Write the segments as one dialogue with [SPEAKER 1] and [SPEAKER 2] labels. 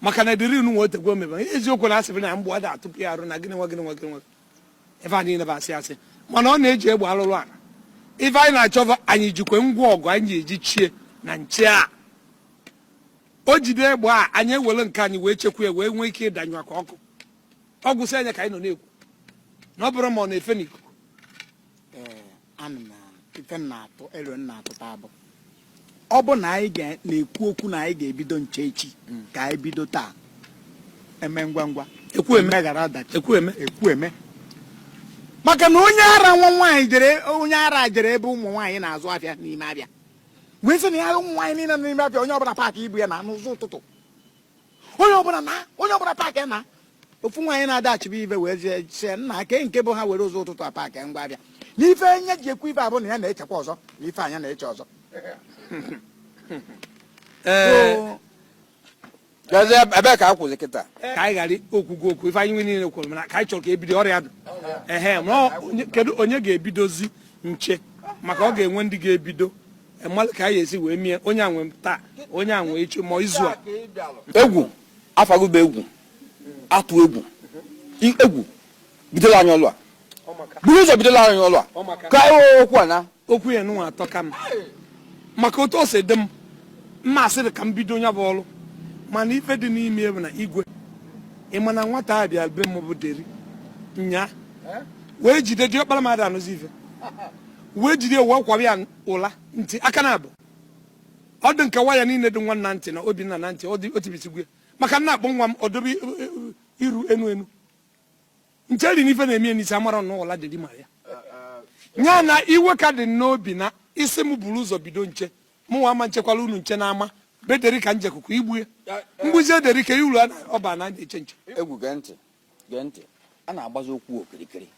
[SPEAKER 1] maka na deri unu nwe o tego o mebe eziokwu na asịrị na mgbọ ada atụpu ya arụ na gịnị nwa gịnị nwa gịnị nwa ife a niile bụ asị asị mana ọ na-eji egbe alụ ọlụ a ife anyị na-achọ bụ anyị jikwe ngwa ọgụ anyị eji chie na nche a o jide egbe a anyị ewere nke anyị wee chekwa ya wee nwee ike ịdanyụ aka ọkụ ọ gwụsịa nya ka anyị nọ na-ekwu na ọ bụrụ ma ọ na-efe n'ikuku ana m ife m na-atụ alo m na-atụta bụ ọ bụ na anyị ga- na-ekwu okwu na anyị ga-ebido nche echi ka anyị bido taa eme ngwa ngwa ekwu eme emeghara ọdachi ekwu eme ekwu eme maka na onye ara nwa nwaanyị jere onye ara jere ebe ụmụ nwaanyị na-azụ afịa n'ime afịa wee sị na ya ụmụ nwaanyị niile nọ n'ime afịa onye ọbụla paakị ibu ya naa n'ụzọ ụtụtụ onye ọbụla na onye ọbụla paakị naa ofu nwaanyị na-adachibe ife wee zie sị na kee nke bụ ha were ụzọ ụtụtụ a paakị ngwa afịa na ife nya ji ekwu ife a bụ na ya na-echekwa ọzọ na ife nya na-eche ọzọ ee gazie ebe ka a kwụzi kịta ka anyị ghara okwukwu okwu ife anyị nwa niile kwuru mana ka anyị chọrọ ka ebido ọrụ a dụ ehe ma ọ- onye- kedu onye ga-ebidozi nche maka ọ ga-enwe ndị ga-ebido malụ ka anyị esi wee mie onye a nwe taa onye a nwe echi ma izu a egwu afagụba egwu atụ egwu egwu bidolu anyị ọlụ a buru ụzọ bidolu anyị ọlụ a ka anyị wee okwu a na okwu ya unu nwa atọka m maka otu o si dị m mma asịrị ka m bido nya bụ ọlụ mana ife dị n'ime bụ na igwe ị ma na nwata a bịa be m bụ deri nya wee jide diọkpara m ada anụzi ife wee jide wee kwaba ya ụla ntị aka naabọ ọ dị ka waya niile dị nwa m na ntị na obinna na ntị o tibisigo maka na akpọọ nwa m ọ dobe iru enu enu nche ri n'ife na-eme n'isi amara na ụla deri ma ya nya na iwe ka dị n'obi na ị sị m buru ụzọ bido nche mụnwa ama echekwala unu nche na ama be deri ka m jekọ kọ igbue m gbuzie deri ka iwuru ọba na eche nche egwu gee ntị gee ntị a na-agbazi okwu okirikiri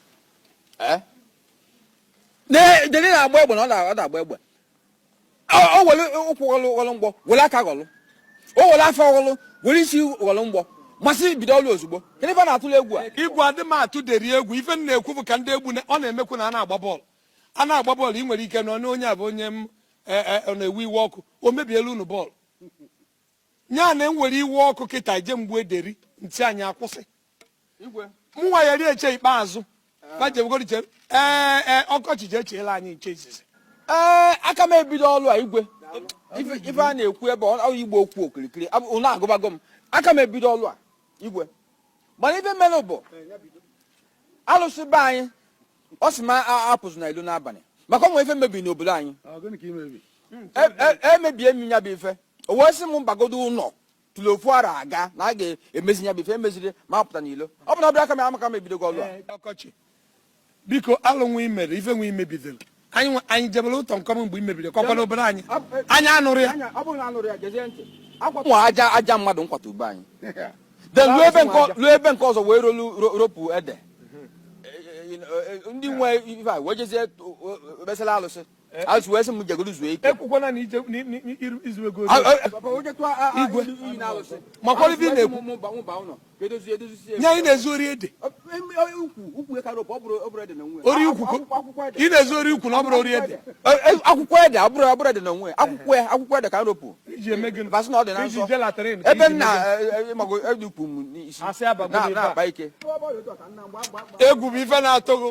[SPEAKER 1] deri na-agba egbe na ọ na-agba egbe o were ụkwụ ghọlụ ghọlụ mgbọ were aka ghọlụ o were afọ ghọlụ were isi ghọlụ mgbọ ma asị bido ọlụ ozugbo kedu ife na-atụlụ egwu a igwe adị m atụ deri egwu ife m na-ekwu bụ ka ndị egwu ọ na-emekwu na a na-agba bọọlụ a na-agba bọọlụ ị nwere ike na onye a bụ onye m e, e, na-ewe iwe ọkụ o mebiela unu bọọlụ nya na m were iwe ọkụ kịta je gbue deri nche anyị akwụsị mụnwa ya ri eche ikpeazụ bajebugoriche ee ee okocha je cheelụ anyị nche izizi ee aka m ebido ọlụ a igwe ife a na-ekwu ebe a bụ ịgba okwu okirikiri ọlụ agụbago m aka m ebido ọlụ a igwe mana ife mere bụ alụsị be anyị ọ sị m apụzina ilo n'abanị maka o nwe ife mebiri n'obodo anyị emebie m ya bụ ife o wee sị m bagodu ụnọ tụrụ ofu ara aga na a ga-emezi ya bụ ife emeziri m apụta n'ilo ọ bụ na ọbịa aka m amaka m ebidogo ọlụ a ọkọchị biko alụ nwa imere ife nwa imebidoro anyị anyị jebere ụtọ nkọm mgbe imebiri kọkwa n'obodo anyị anyị anụrụ ya nwa aja aja mmadụ nkwata ube anyị then ruo ebe nke ọ- ruo ebe nke ọzọ wee rolu ro- ropu ede Eh, eh, ndị nwe ife a wee jezie obesala alụsị alụsị wee sị m jegoro zuo ike ekwukwana na ije ni- ni- ni- iru- izu ego Ah, ah, ah, Igwe. makwa ife ị na-ekwu nye anyị na-ezu ori ede ori ukwu ị na-ezu ori ukwu na ọ bụrọ ori ede akwụkwọ ede abụrọ abụrọ ede na o nwe akwụkwọ ya akwụkwọ ede ka m ropụ basị na ọ dị na nsọ ebe nna mago edukwu m n'isi na-akpa ike egwu bụ ife na-atụ gị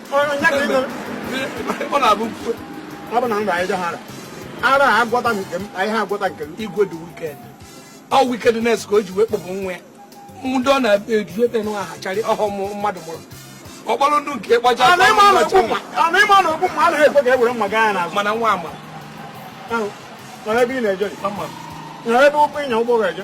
[SPEAKER 1] ọ na-abụ ọ bụ na nra anyị ha ara a agwọta nke m anyị ha agwọta nke m igwe dị wikend ọ wikend nes ka o ji wee kpọbụ nwa ya ndị ọ na-eji ebe nwa ha charị ọhụụ mmadụ mụrụ ọkpọrọ ndụ nke gbaja mana nwa ama ebe ị na-eje ebe ụkwụ ịnya ụgbọ ga-eje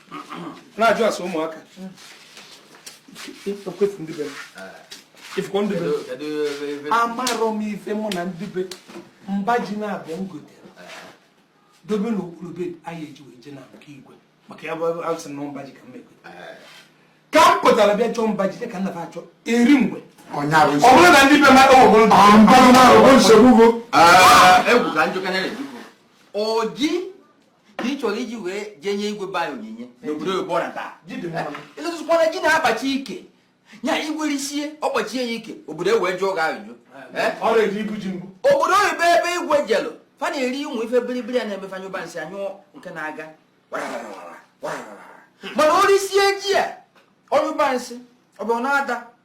[SPEAKER 1] na-ajụ asụ ụmụaka amarọ m ife mụ na ndị be mba ji na-abịa m gotere dobe n'okpuru be anyị eji wee je na nke igwe maka ya bụ asị na mba ji ka m egote ka m pụtara bịa chọọ mba jide ka nna fa achọ eri mgbe ọ bụrụ na ndị be ma ewebụrụ nsogbu bụ egwu ka njụkanya na-ejuku oji ka ị chọrọ iji wee jee nye igwe be anyị onyinye n'obodo oyibo na taa ịtụtụkwana ji na-akpachi ike nya igwe risie ọ kpachie ya ike obodo e wee jụọ gị ajụjụ obodo oyibo ebe igwe jelụ fa na-eri ụmụ ife biribiri a na-eme fa nyụba nsị anyụ nke na-aga mana o risie ji a ọ nyụba nsị ọ bụ na-ada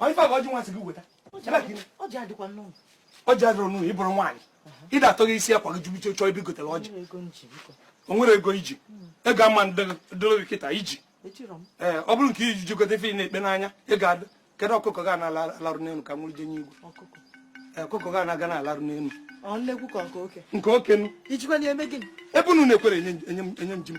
[SPEAKER 1] Ọ ife a bụ ọjị nwa sị gị weta. Ọjị adịkwa n'ụlọ. Ọjị adịrọ n'ụlọ ị bụrụ nwaanyị. Ị da-atọ gị isi akwa gị jubiche chọọ ibi gotere ọjị. O nwere ego i ji. Ego ama dịrị gị kịta i ji. Ee, ọ bụrụ nke i ji egote ife ị na-ekpe n'anya ọ ga-adị. Kedu ọkụkọ ga na-alarụ n'elu ka m nwụrụ jee nye igwe? Ọkụkọ ga na-aga na-alarụ n'elu. Nke oke. Ebe unu na-ekwerọ enye m ji m.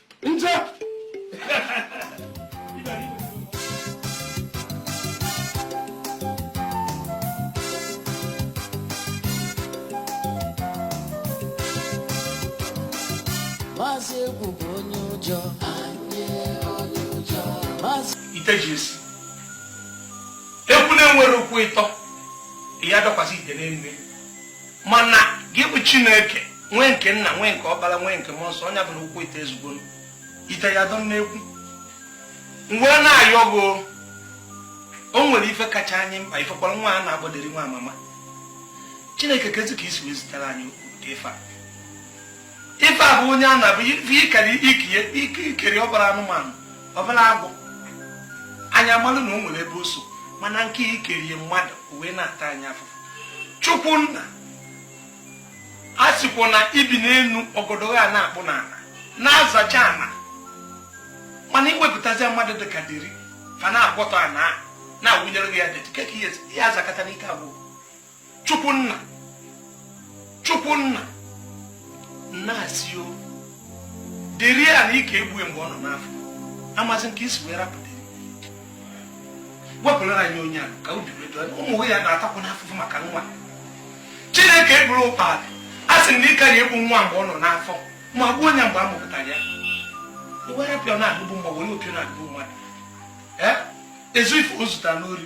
[SPEAKER 1] maazị egwu bụ onye ụjọ ite ji esi ekwu na-enwere ụkwụ ịtọ ya dọkwasị ite n'elu mana gị bụ chineke nwee nke nna nwee nke ọkpara nwee nke mmụọ nsọ onye ọbụla ụkwụ ite ezugbo ite ya dọ n'ekwu mgbe na-ayọ gị o nwere ife kacha anyị mkpa ịfụkwara nwa a na-akpọ deri nwamama chineke kezi ka i si wee zitere anyị ụdị ife a ife a bụ onye a na-abụ ikere ikiye ikiri ọ bụrụ anụmanụ ọ bụrụ agụ anyị amalụ na o nwere ebe o so mana nke i kere ya mmadụ o wee na-ata anyị afụfụ chukwu nna a sịkwa na i bi n'enu ọgọdọ a na-akpụ n'ana na-azacha ana mana i wepụtazi mmadụ dị ka deri fa na-agwọtọ ana na-awụnyere gị ya dị ka ihe azakata n'ike agwụ chukwu nna chukwu nna nna a sị ọ deri a na ị ka-egbu ya mgbe ọ nọ n'afọ amazi m ka i si wee rapụta wepụlara anyị onye a ka obi redo ụmụ ya na-atakwa n'afụfụ maka nwa chineke eburu ụkpalị a sị na ị ka ya-egbu nwa mgbe ọ nọ n'afọ ma gbuo onye mgbe a mụpụtara ya were pịọ na-agụbụ mma were opịọ na-agụbụ mmadụ ezu ife o zutara n'ori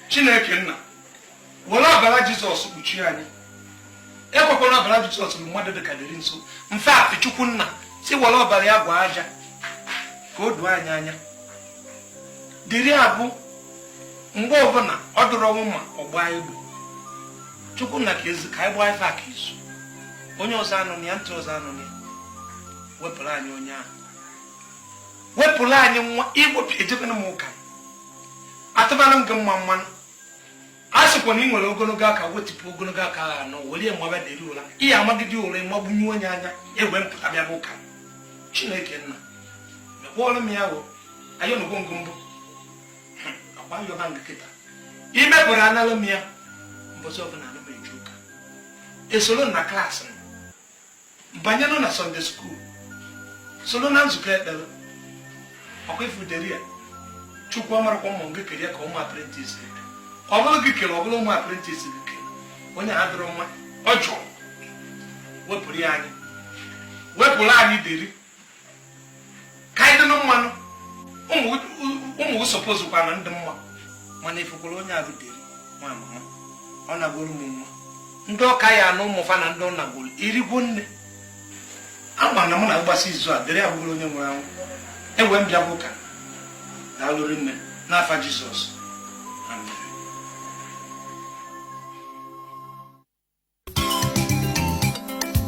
[SPEAKER 1] chineke nna were ọbara jizọs kpuchie anyị ekwekwana ọbara jizọs bịa mmadụ dị ka deri nso mfe atụ chukwu nna si were ọbara ya gwa aja ka o doo anyị anya deri a bụ mgbe ọbụla ọ dụrụ ọnwụ ma ọ gbaa egbe chukwu nna kezi ka anyị gbaa ife aka izu onye ọzọ anụna ntị ọzọ anụna wepụrụ anyị onye a wepụrụ anyị nwa i wepụ ejebena m ụka atụbara m gị mma mmanụ a sịkwa na ị nwere ogologo aka wetịpụ ogologo aka ahụ anọ were mgbaba deri ụra ihe amagide ụra ịmagbunye onye anya egwe mpụta bịa bụ ụka chineke nna mekpọọrọ m ya o ayọnugo m gị mbụ akwa yọba m gị kịta imepụrụ analụ m ya mbọchị ọbụla anụ m eji ụka esoro na class m banyenụ na sunday school soro na nzukọ ekpere ọkwa ịfụ deri a chukwu amarọkwa m ma ọ gị kere ya ka ọ ụmụ apprentice gị ọ bụrụ gị kere ọ bụrụ ụmụ apprentice gị kere onye a adịrọ mma ọ jụrụ wepụrụ ya anyị wepụrụ anyị deri ka anyị dịnụ mmanụ ụmụ suppose kwana ndị mma mana ị fụkwara onye a rutere nwa mama ọ nagoro m nwa ndị ọka ya na ụmụ fa na ndị ọ nagoro irigo nne ama na mụ na mgbasa izu a dịrị abụgoro onye nwere anwụ enwe m bịa bụ ụka na alụrị nne n'afa Jizọs